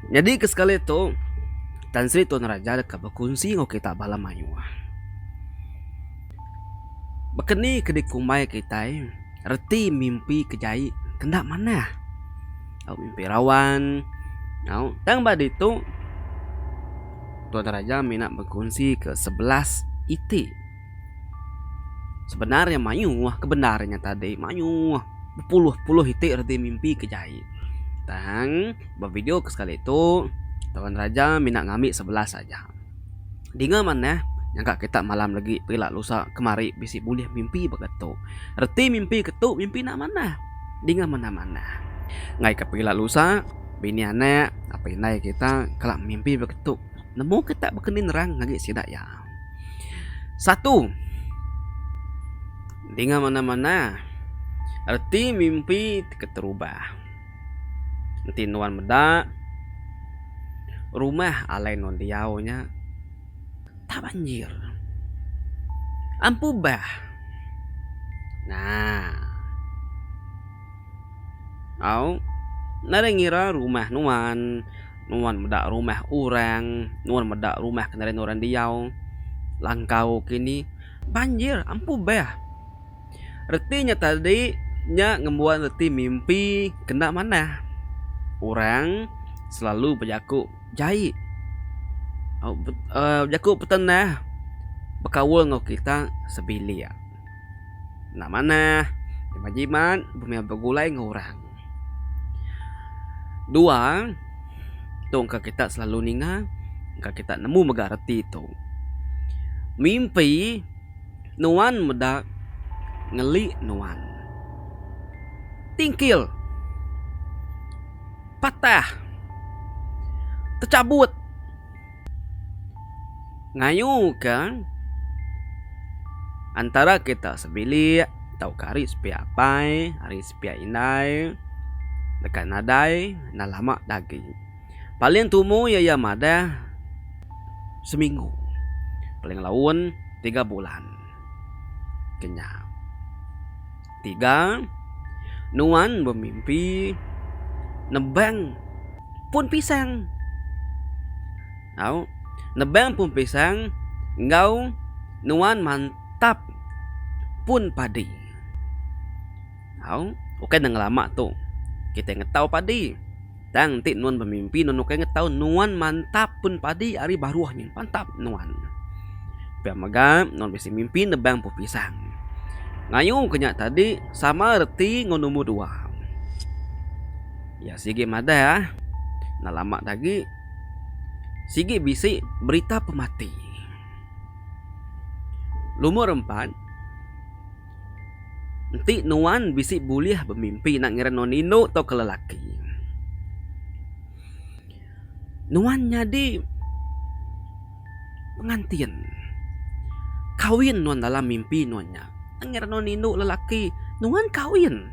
Nyadi ke sekali tu Tan Sri Tun Raja deka bekunsi enggau kita bala mayuh. Baka ni ke dikumbai kitai. Reti mimpi ke jai enda manah. Au mimpi rawan au tang ba ditu Tuan Raja mina bekunsi ke sebelas iti sebenar iya mayuh ke bendar inya tadi mayuh bepuluh-puluh iti reti mimpi ke jai tang ba video ke sekali tu Tuan Raja mina ngambi sebelas aja. Dinga manah, nyangka kita malam lagi pila lusa kemari bisi bulih mimpi baka tu. Reti mimpi ke tu mimpi enda manah. Dinga mena manah. Ngaika pila lusa, bini anak apai indai kita kala mimpi baka tu. Nemu kita baka ni nerang ngagai sida iya. Satu, dinga mena manah reti mimpi ti keterubah. Enti nuan meda rumah alai nuan diau nya tabanjir. Ampu bah. Naa. Au nadai ngira rumah nuan, nuan meda rumah orang, nuan meda rumah ke nadai nuan orang diau langkau kini banjir ampu bah. Reti nya tadi nya ngembuan reti mimpi kena manah. Orang selalu bejaku jai uhh bejaku peten neh bekaul enggau kita sebilik enda manah kimet jimat meh begulai enggau orang. Dua tu engka kita selalu ninga engka kita nemu mega reti tu. Mimpi. Nuan meda ngeli nuan. Tingkil. Patah. Techabut. Ngayuka antara kita sebilik tauka ari sepiak apai ari sepiak indai deka nadai enda lama dagi. Paling tumu iya iya madah seminggu paling laun tiga bulan kenya tiga nuan bemimpi nebang pun pisang au nebang pun pisang enggau nuan mantap pun padi au ukai ne ngelama tu kitai ngetau padi. Tang enti nuan bemimpi nuan ukai ngetau nuan mantap pun padi ari baruh nyin mantap nuan. Pia mega nuan bisi mimpi nebang puh pisang. Ngayuh ke nya tadi sama reti ngan nombor dua. Iya sigi madah enda lama dah agi sigi bisi berita pemati. Nombor empat. Enti nuan bisi bulih bemimpi enda ngira nuan indu tauka lelaki. Nuan nyadi pengantin. Kawin nuan dalam mimpi nuan nya. Enda ngira nuan indu lelaki, nuan kawin.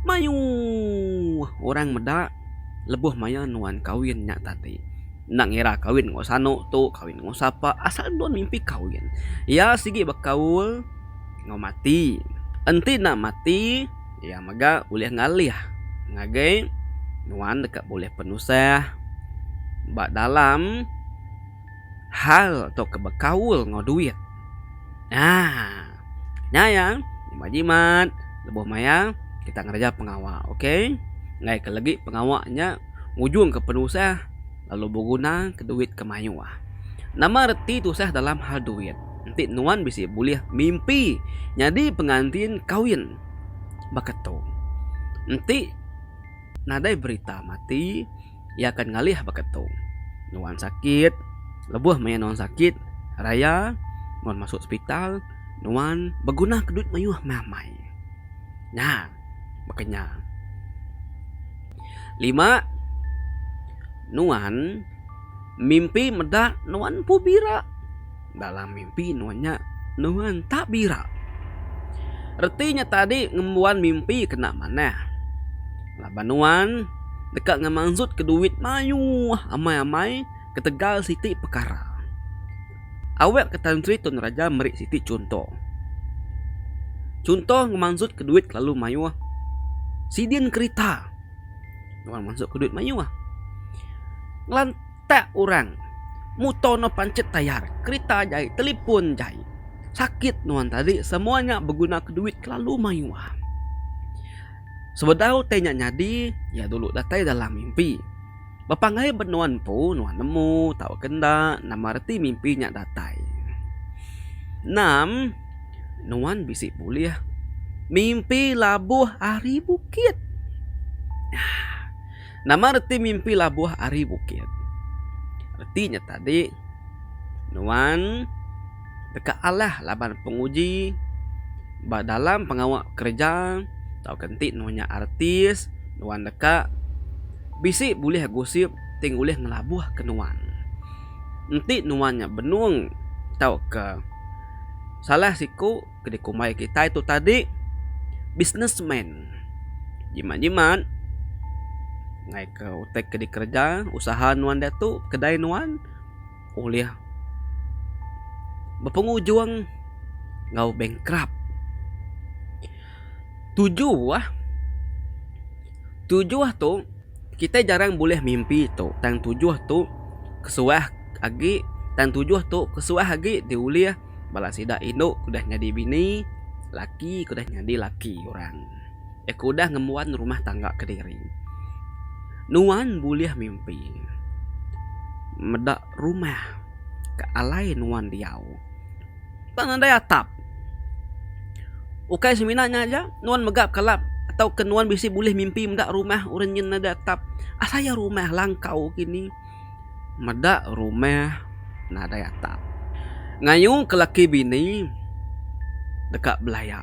Mayuh orang meda lebuh maya nuan kahwin nya tadi. Enda ngira kahwin enggau sanu tu, kahwin enggau sapa, asal nuan mimpi kahwin. Iya sigi bekaul enggau mati. Enti enda mati, iya mega ulih ngalih ngagai nuan deka bulih penusah ba dalam. hal tauka bekaul enggau duit. Haa. Nya iya nyema jimat lebuh maya kita ngereja pengawa okay. Enggai ke legi pengawa nya ngujung ke penusah lalu beguna ke duit ke mayuh. Nama reti tusah dalam hal duit. Enti nuan bisi bulih mimpi nyadi pengantin kawin baka tu. Enti nadai berita mati. iya akan ngalih baka tu. Nuan sakit, lebuh maya nuan sakit raya nuan masuk sepital nuan begunaka duit mayuh meh amai. Nya baka nya. Lima nuan mimpi meda nuan empu bira. dalam mimpi nuan nya nuan tak bira. Reti nya tadi ngembuan mimpi kena manah. Laban nuan deka ngemansutka duit mayuh amai-amai ketegal siti pekara. Awakka Tan Sri Tun Raja meri siti chunto. Chunto ngemansutka duit kelalu mayuh sidin kerita. Nuan mansutka duit mayuh. Ngelan. Utak orang. Muto no pancit tayar, kerita jai, telipon jai. Sakit nuan tadi semua nya beguna ke duit kelalu mayuh. Sebedau utai nya nyadi iya dulu datai dalam mimpi. Bepanggai ba nuan empu nuan nemu tauka enda nama reti mimpi nya datai. Enam nuan bisi bulih mimpi labuh ari bukit. Aaa. Nama reti mimpi labuh ari bukit? Reti nya tadi nuan deka alah laban penguji ba dalam pengawa kereja tauka enti nuan nya artis nuan deka bisi bulih gosip ti ngulih ngelabuhka nuan. Enti nuan nya benung tauka salah siku. ke dikumbai kitai tu tadi businessman. Jimat-jimat ngaika utai ke dikereja usaha nuan diatu kedai nuan ulih bepengujung enggau bankrupt. Tujuh tujuh tu kitai jarang bulih mimpi tu tang tujuh tu kesuah agi tang tujuh tu kesuah agi diulih. Bala sida indu ke udah nyadi bini, laki ke udah nyadi laki orang iya ke udah ngembuan rumah tangga kediri. Nuan bulih mimpi meda rumah ke alai nuan diau ba nadai atap. Ukai semina nya aja nuan mega kala tauka nuan bisi bulih mimpi meda rumah orang nyin nadai atap. Asai rumah langkau kini. meda rumah nadai atap. Ngayuka laki bini deka belaya.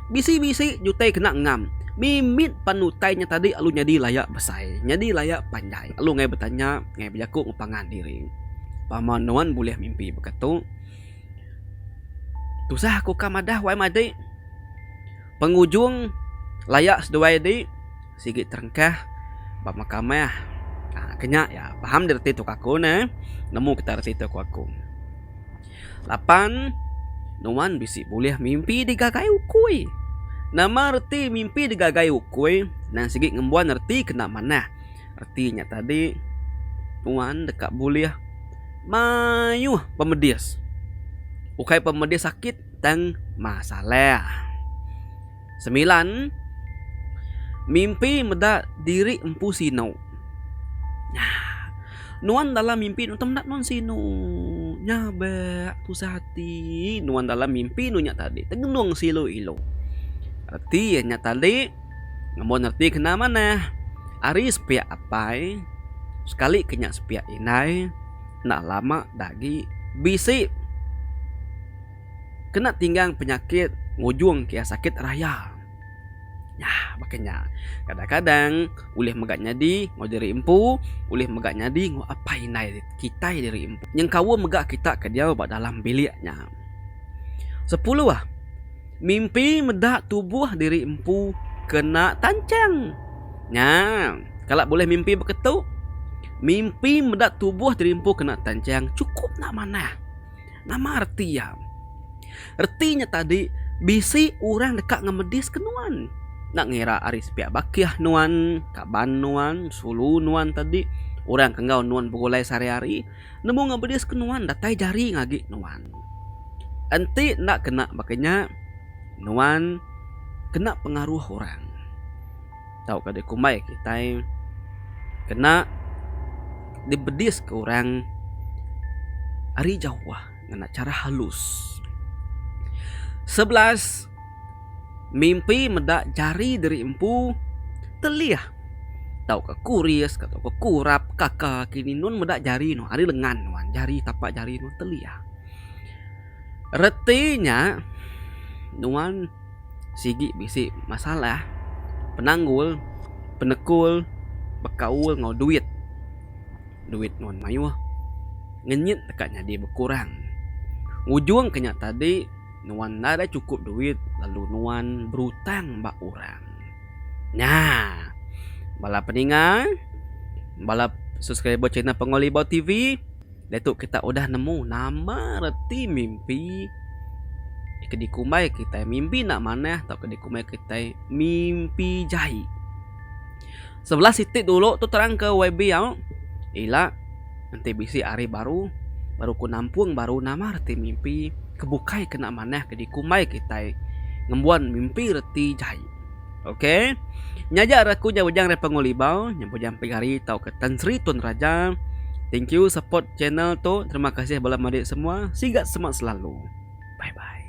Bisi-bisi jutai kena ngam. Mimit pan utai nya tadi lalu nyadi laya besai, nyadi laya panjai. Lalu ngai betanya, ngai bejaku enggau pangan diri, Pama nuan bulih mimpi baka tu? Tusah aku ka madah wai madi. Pengujung laya seduai di. Sigi terengkah ba makamah. Haa ke nya iya paham di reti tu ka aku neh. Nemu kita reti tu ku aku. Lapan nuan bisi bulih mimpi digagai ukui. Nama reti mimpi digagai ukui nan sigi ngembuan reti kena manah. Reti nya tadi nuan deka bulih mayuh pemedis. Ukai pemedis sakit tang masalah. Semilan, mimpi meda diri empu sinu. Nya. Nuan dalam mimpi nuan tu meda nuan sinu. Nya be tusah ati nuan dalam mimpi nuan nya tadi tengenung seilu-ilu. Reti iya nya tadi amun reti kena manah ari sepiak apai sekali ke nya sepiak indai enda lama da agi bisi. kena tinggang penyakit ngujung kia sakit raya. Nya baka nya, kadang-kadang ulih mega nyadi enggau diri empu, ulih mega nyadi enggau apai indai kitai diri empu. Nyengkaum mega kita ke diau ba dalam bilik nya. Sepuluh, mimpi meda tubuh diri empu kena tanchang. Nya, kala bulih mimpi baka tu, mimpi meda tubuh diri empu kena tanchang chukup enda manah. Nama reti iya? Reti nya tadi bisi orang deka ngemediska nuan. Enda ngira ari sepiak bakih nuan, kaban nuan, sulu nuan tadi, orang ke enggau nuan begulai sehari-hari nemu ngemediska nuan datai jari ngagi nuan. Enti enda kena baka nya nuan kena pengaruh orang. tauka dikumbai kitai kena dibediska orang ari Jehovah ngena chara halus. Sebelas, mimpi meda jari diri empu telih tauka kuris ka tauka kurap kaka kini nun meda jari nuan ari lengan nuan jari tapak jari nuan telih. Reti nya, nuan sigi bisi masalah penanggul, penekul bekaul enggau duit. Duit nuan mayuh ngenyit deka nyadi bekurang. Ngujungka nya tadi, nuan enda deh chukup duit lalu nuan berutang ba orang. Nya, bala peninga, bala subscriber channel Pengawa Libau TV. Diatu kita udah nemu nama reti mimpi ke dikumbai kitai mimpi enda manah tauka dikumbai kitai mimpi jai. Sebelah siti dulu tu terangka YB au ila enti bisi hari baru baru ku nampung baru nama reti mimpi ke bukai ke enda manah ke dikumbai kitai ngembuan mimpi reti jai. Okey. Nyaja raku nya bujang dari Pengu Libau, nya bujang Pik Hari tauka Tan Sri Tun Raja. Thank you support channel tu. Terima kasih bala menyadi semua. Sigat semak selalu. Bye bye.